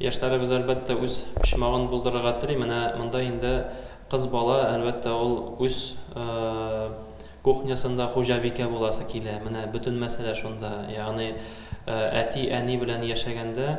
Яшьләребез, әлбәттә, үз почмагын булдырырга тели. Менә монда инде кыз бала, әлбәттә, ул үз кухнясында хуҗабикә буласы килә. Менә бөтен мәсьәлә шунда. Ягъни әти, әни белән яшәгәндә,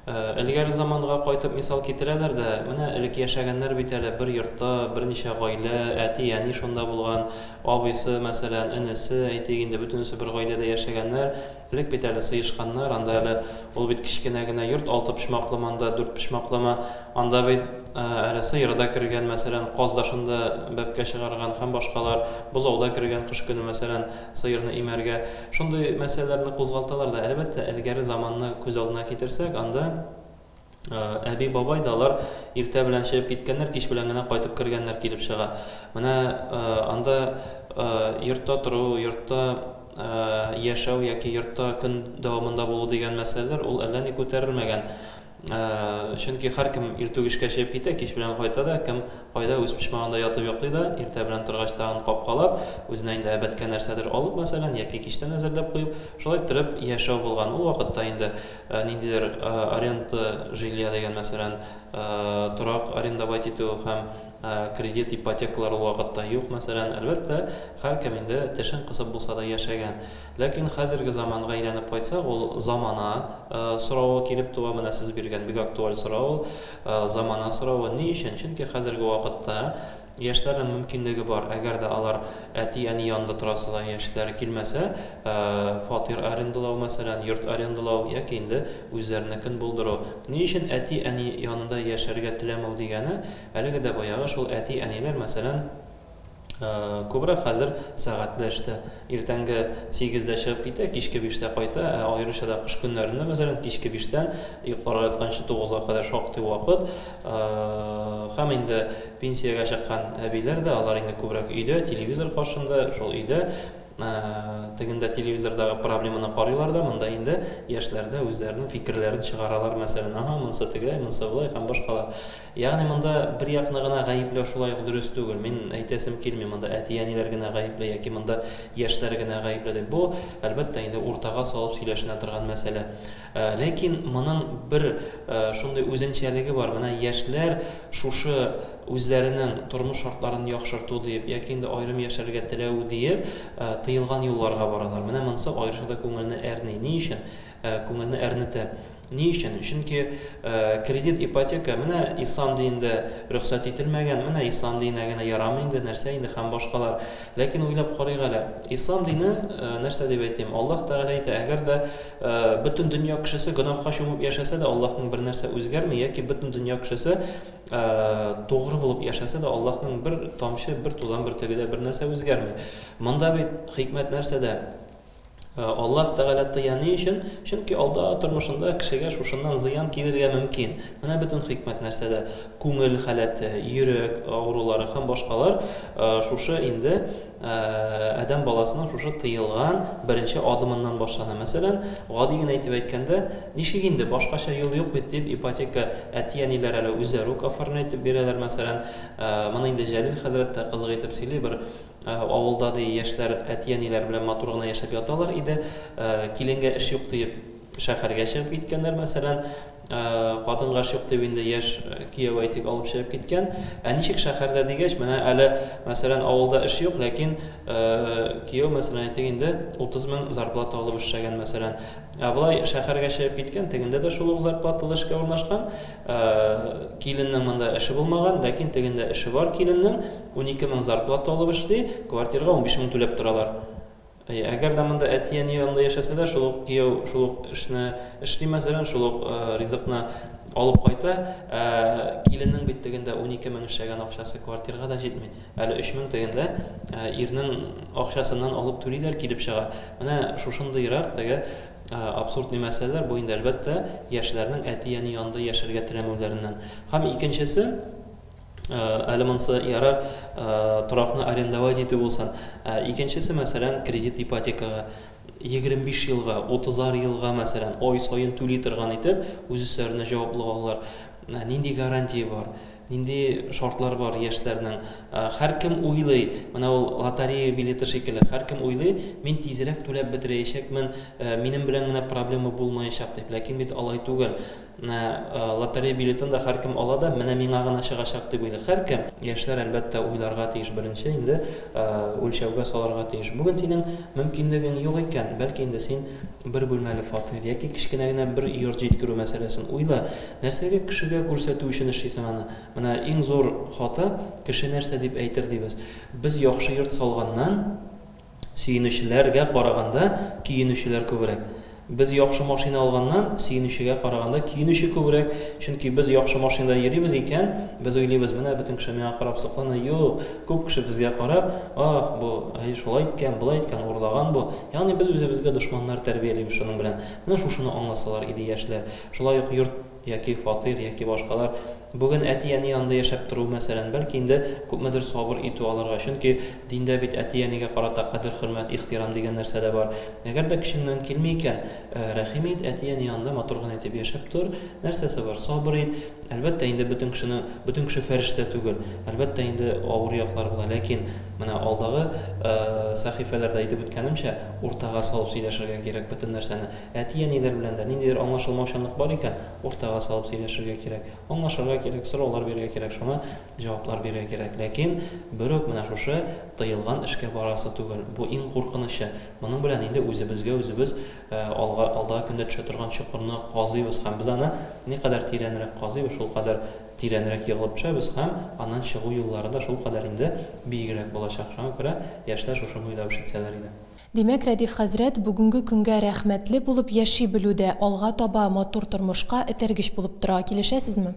элгәре заманга кайтып мисал китерәләр дә, менә элек яшәгәннәр бит әле, бер йортта берничә гаилә, әти, әни шунда булган, абыйсы, мәсәлән, энесе, әйтик инде, бөтенесе бер гаиләдә яшәгәннәр, Элек бит әле сыешканнар, анда әле ул бит кечкенә генә йорт, алтыпочмаклымы анда, дүртпочмаклымы, анда бит әле сыер да кергән, мәсәлән, каз да шунда бәбкә чыгарган һәм башкалар, бозау да кергән кыш көне, мәсәлән, сыерны имәргә. Шундый мәсьәләләрне кузгалталар да, әлбәттә, элгәре заманны күз алдына китерсәк, анда. Әби-бабай да алар иртә белән чыгып киткәннәр, кич белән генә кайтып кергәннәр килеп чыга. Менә анда йортта тору, йортта яшәү яки йортта көн дәвамында булу дигән мәсьәләләр ул әллә ни күтәрелмәгән. Чөнки һәркем иртүк эшкә чыгып китә, кич белән кайта да, кем кайда үз почмагында ятып йоклый да, иртә белән торгач тагын капкалап, үзенә инде әбәткә нәрсәдер алып, мәсәлән, яки кичтән әзерләп куеп, шулай торып яшәү булган. Ул вакытта инде Ә ниндидер аренда жилья дигән, мәсәлән, торак арендовать итү һәм кредит, ипотекалар ул вакытта юк, мәсәлән. Әлбәттә, һәркем инде тешен кысып булса да яшәгән. Ләкин хәзерге заманга әйләнеп кайтсак, ул замана соравы килеп туа. Менә сез биргән бик актуаль сорау ул. Замана соравы ни өчен? Чөнки хәзерге вакытта, Яшьләрнең мөмкинлеге бар, әгәр дә алар әти-әни янында торасы да яшьләре килмәсә, фатир арендалау, мәсәлән, йорт арендалау яки инде үзләренекен булдыру. Ни өчен әти-әни янында яшәргә теләмәү дигәне, әлеге дә баягы шул әти-әниләр, мәсәлән, күбрәк хәзер сәгатьле эштә. Иртәнге сигездә чыгып китә, кичке биштә кайта, ә аеруча да кыш көннәрендә, мәсәлән, кичке биштән йокларга ятканчы тугызга кадәр шактый вакыт. Һәм инде пенсиягә чыккан әбиләр дә, алар инде күбрәк өйдә, телевизор каршында, шул өйдә, тегендә телевизордагы проблеманы карыйлар да, монда инде яшьләр дә үзләренең фикерләрен чыгаралар, мәсәлән, аһа, монысы тегеләй, монысы болай һәм башкалар. Ягъни монда бер якны гына гаепләү шулай ук дөрес түгел. Мин әйтәсем килми, монда әти-әниләр генә гаепле яки монда яшьләр генә гаепле дип. Бу, әлбәттә, инде уртага салып сөйләшенә торган мәсьәлә. Ләкин моның бер шундый үзенчәлеге бар, менә яшьләр шушы үзләренең тормыш шартларын яхшырту диеп яки инде аерым яшәргә теләү диеп тыелган юлларга баралар. Менә монысы аеруча да күңелне әрни. Ни өчен күңелне әрнетә? Ни өчен? Чөнки кредит, ипотека, менә ислам диендә рөхсәт ителмәгән, менә ислам диенә генә ярамый инде, нәрсә инде һәм башкалар. Ләкин уйлап карыйк әле, ислам дине, нәрсә дип әйтим, Аллаһ Тәгалә әйтә, әгәр дә бөтен дөнья кешесе гөнаһка чумып яшәсә дә, Аллаһның бер нәрсә үзгәрми, яки бөтен дөнья кешесе тугры булып яшәсә дә, Аллаһның бер тамчы, бер тузан бөртеге дә бер нәрсә үзгәрми. Монда бит хикмәт нәрсәдә? Э, Аллаһ Тәгалә тыя ни өчен? Чөнки алда тормышында кешегә шушыннан зыян килергә мөмкин. Менә бөтен хикмәт нәрсәдә. Күңел халәте, йөрәк авырулары һәм башкалар э, шушы инде э, адәм баласының шушы тыелган беренче адымыннан башлана. Мәсәлән, гади генә итеп әйткәндә, ничек инде башкача юл юк бит дип ипотека әти-әниләр әле үзләре үк оформлять итеп бирәләр, мәсәлән. Моны инде Җәлил хәзрәт тә кызык итеп сөйли, бер Авылда, ди, яшьләр әти-әниләре белән матур гына яшәп яталар иде. Киленгә эш юк диеп, шәһәргә чыгып киткәннәр, мәсәлән. Хатынга эш юк дип, инде яшь кияү, әйтик, алып чыгып киткән. Ә ничек шәһәрдә дигәч, менә әле, мәсәлән, авылда эш юк, ләкин кияү, мәсәлән, әйтик инде, 30 мең зарплата алып эшләгән, мәсәлән. Ә болай шәһәргә чыгып киткән, тегендә дә шул ук зарплаталы эшкә урнашкан. Киленнең монда эше булмаган, ләкин тегендә эше бар киленнең. Унике мең зарплата алып эшли, квартирага унбиш мең түләп торалар. Әйе, әгәр дә монда әти-әни янында яшәсә дә, шул ук кияү шул ук эшне эшли, мәсәлән, шул ук ризыкны алып кайта, ә киленнең бит тегендә унике мең эшләгән акчасы квартирага да җитми. Әле өч мең тегендә ирнең акчасыннан алып түлиләр килеп чыга. Менә шушындыйрак теге абсурдный мәсьәләләр, бу инде, әлбәттә, яшьләрнең әти-әни янында яшәргә теләмәүләреннән. Һәм икенчесе, Әле монысы ярар, торакны арендовать итү булсын. Ә икенчесе, мәсәлән, кредит ипотекага 25 елга, 30 елга, мәсәлән, ай саен түли торган итеп, үз өсләренә җаваплы алалар. Нинди гарантия бар? Нинди шартлар бар яшьләрнең? Һәркем уйлый, менә ул лотерея билеты шикелле, һәркем уйлый, мин тизрәк түләп бетерәячәкмен, минем белән генә проблема булмаячак дип. Ләкин бит алай түгел. На лотерея билетын да һәркем ала да, менә миңа гына чыгачак дип уйлый һәркем. Яшьләр, әлбәттә, уйларга тиеш беренче, инде үлчәүгә салырга тиеш. Бүген синең мөмкинлегең юк икән, бәлки инде син бер бүлмәле фатир яки кечкенә генә бер йорт җиткерү мәсьәләсен уйла. Нәрсәгә кешегә күрсәтү өчен эшлисең аны? Менә иң зур хата, кеше нәрсә дип әйтер дибез. Без яхшы йорт салганнан, Сөенүчеләргә караганда көенүчеләр күбрәк. Без яхшы машина алганнан, сөенүчегә караганда көенүче күбрәк, чөнки без яхшы машинада йөрибез икән, без уйлыйбыз, менә бөтен кеше миңа карап соклана, юк, күп кеше безгә карап, ах, бу һай шулай иткән, болай иткән, урлаган бу. Ягъни без үзебезгә дошманнар тәрбиялибез шуның белән. Менә шушыны аңласалар иде яшьләр. Шулай ук йорт. яки фатир, яки башкалар. Бүген әти-әни янында яшәп тору, мәсәлән, бәлки инде күпмедер сабыр итү алырга, чөнки диндә бит әти-әнигә карата кадер-хөрмәт, ихтирам дигән нәрсә дә бар. Әгәр дә көчеңнән килми икән, рәхим ит, әти-әни янында матур гына итеп яшәп тор, нәрсәсе бар, сабыр ит. Әлбәттә, инде бөтен кешенең, бөтен кеше фәрештә түгел, әлбәттә, инде авыр яклары була, ләкин, менә алдагы сәхифәләрдә әйтеп үткәнемчә, уртага салып сөйләшергә кирәк бөтен нәрсәне. Әти-әниләр белән дә ниндидер аңлашылмаучанлык бар икән, уртага салып сөйләшергә кирәк. Аңлашырга кирәк, сораулар бирергә кирәк, шуңа җаваплар бирергә кирәк. Ләкин берүк менә шушы тыелган эшкә барасы түгел. Бу иң куркынычы. Моның белән инде үзебезгә үзебез алга, алдагы көндә төшә торган чокырны казыйбыз һәм без аны никадәр тирәнрәк казыйбыз, шулкадәр тирәнрәк егылып төшәбез һәм аннан чыгу юллары да шулкадәр инде биегрәк булачак. Шуңа күрә яшьләр шушыны уйлап эш итсәләр иде. Димәк, Рәдиф хәзрәт бүгенге көнгә рәхмәтле булып яши белү дә алга таба матур тормышка этәргеч булып тора. Килешәсезме?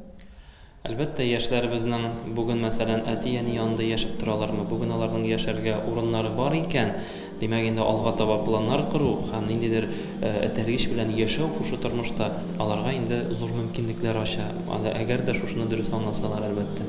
Әлбәттә, яшьләребезнең бүген, мәсәлән, әти-әни янында яшәп торалармы, бүген аларның яшәргә урыннары бар икән, димәк, инде алга таба планнар кору һәм ниндидер этәргеч белән яшәү шушы тормышта аларга инде зур мөмкинлекләр ача, әгәр дә шушыны дөрес аңласалар, әлбәттә.